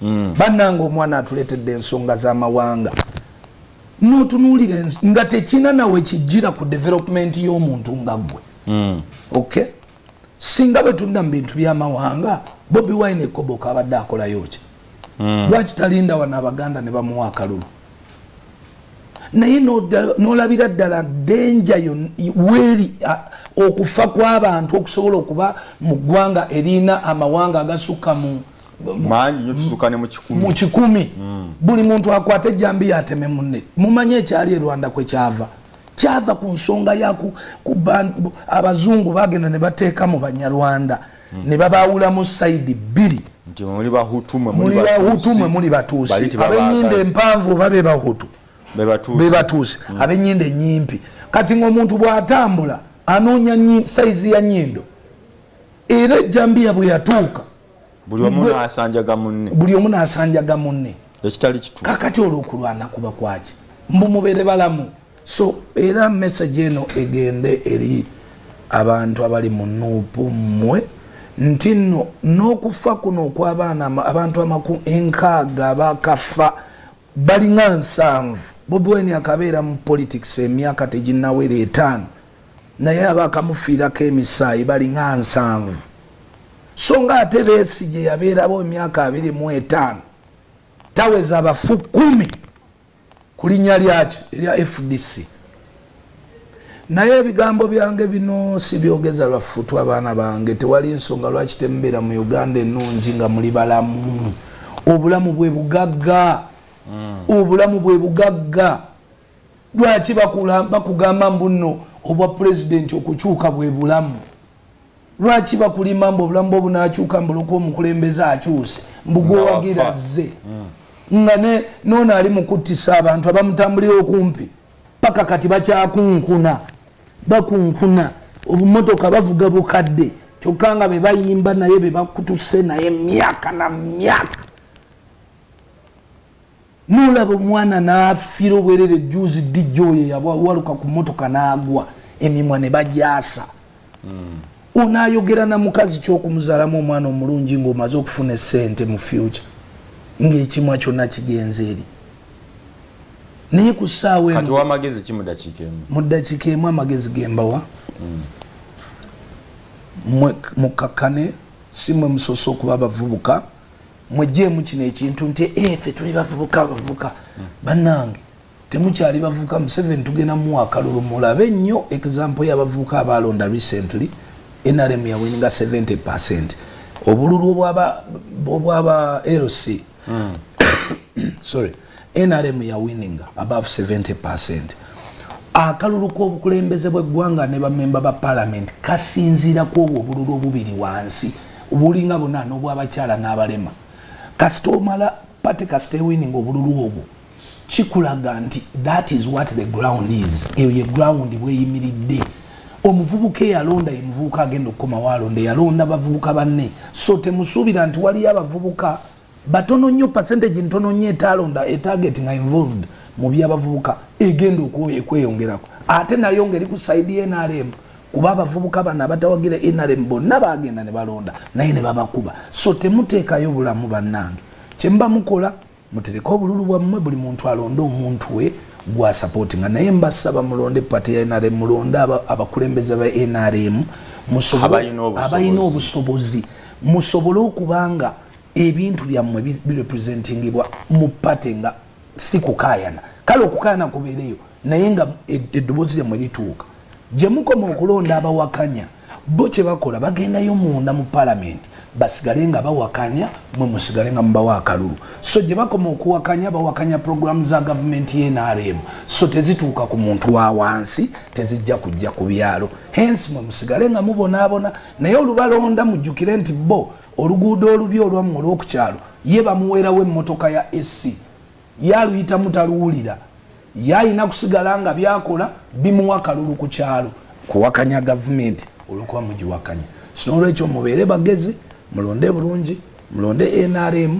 mm. bananga omwana atuletedde ensonga zamawanga notunulira nga tekina nawe kijira ku development yomuntu nga gwe mm. okay singa bwetunda mubintu byamawanga bobi wine ekoboka abadde akolayoki mm. lwaki talinda wana abaganda ne bamuwa akalulu naye nolabira ddala denja weri okufa kwabantu okusobola okuba mu ggwanga erina amawanga agasukka mu mangi nyo kisuka ne mukikumi mukikumi mm. buli muntu akwate jambi yateme munne mumanye ekyali e Rwanda kwe kyava kyava ku nsonga ya ku, ku bantu abazungu bagenda ne bateeka mu banyarwanda mm. ne babaawula mu side bbiri nti muli bahutu mwe muli bahutu mwe muli batuusi abenyinde empanvu oba be bahutu be batuusi mm. abenyinde enyimpi kati ng'omuntu bw'atambula anoonya sayizi ya nyindo era ejjambiya bwe yatuuka buli omu nasanjaga munne buli omu nasanjaga munne ekitali kitu kakati olwokulwana kuba kwaki mbu mubere balamu so era message eno egende eri abantu abali mu nuupu mmwe nti nno n'okufa kuno okw'abaana abantu amaku enkaaga bakafa balinga nsanvu bobi wine akabeera mu politics emyaka teginawera etaano naye abakamufiirako emisaayi balinga nsanvu so nga ate beesi gye yabeerawo emyaka abiri mu etaano taweza abafu kumi ku linnya lyaki erya fdc naye ebigambo byange bino sibyogeza lwafutu abaana bange tewali nsonga lwaki temubeera mu uganda ennungi nga muli balamu obulamu bwe bugagga hmm. obulamu bwe bugagga lwaki bakugamba mbuno obwa pulezidenti okukyuka bwe bulamu lwaki bakulima mbu obulamu bwe obunakyuka mbuloko omukulembeze akyuse mbugwewagira zze mm. nga noona ali mukuttisa abantu abamutambulira okumpi paka kati bakyakunkuna bakunkuna obumotoka bavuga bukadde kyokka nga bebayimba naye bebakutuse naye myaka na myaka nolaba omwana nafira obwerere juzi dj oyo yawaluka ku motoka nagwa emimwa ne bajasa mm. onayogera na mukazi kyokumuzalamu omwana omulungi ngaomaze okufuna esente mu future ngaekimwa kyonna kigenze eri naye ku ssaawa mu ddakiika emu amagezi gembawa mm. mwe mukakkane si mwe musoose okuba abavubuka mwejeemu kino ekintu nti efe eh, tuli bavubuka bavubuka bannange temukyali bavubuka museveni tugenda muwa akalulu mulabe nnyo example y'abavubuka abaalonda recently nrm yawininga 70 percent obululu obwaba lc hmm. sorry nrm ya winning above 70 percent akalulu k'obukulembeze bw'eggwanga ne bamemba ba palamenti kasinziira ku obwo obululu obubiri wansi obulinga buna n'obwabakyala n'abalema kasita omala pate kasita ewinning obululu obwo kikulaga nti that is what the ground is eyo ye ground bweyimiridde omuvubuka eyalonda ye muvubuka agenda okukomawo alonda eyalonda bavubuka banne so temusuubira nti waliyo abavubuka batono nnyo percentage ntono nnyo etalonda etarget nga involved mu byabavubuka egenda okweyongerako ate nayo ngeri ku side nrm kuba abavubuka bano abatawagira nrm bonna bagenda ne balonda naye ne babakuba so temuteekayo bulamu bannange kyemuba mukola mutereke obululu bwammwe buli muntu alonde omuntu we gwasapoti nga naye mbasaba mulonde pati ya nrm mulonde abakulembeze ba nrm abalina obusobozi musobole okuba nga ebintu byammwe birepresentingibwa mu pate nga si kukayana kale okukayana kubeereyo naye nga eddoboozi lyammwe lituuka gye mukoma okulonda abawakanya bo kye bakola bagendayo munda mu palamenti basigale nga bawakanya mwe musigale nga mubawa akalulu so gye bakoma okuwakanya bawakanya puroguramu za gavumenti y'enrm so tezituuka ku muntu wa wansi tezijja kujja ku byalo hensi mwe musigale nga mubonaabona naye olubalonda mujjukire nti bo oluguudo olubi olwamu olwokukyalo ye bamuweerawo emmotoka ya ac ye aluyita mutaluwulira ye alina kusigala nga byakola bimuwa kalulu ku kyalo kuwakanya gavumenti olwokuba mugiwakanya sinolwekyo mubeere bagezi mulonde bulungi mulonde nrm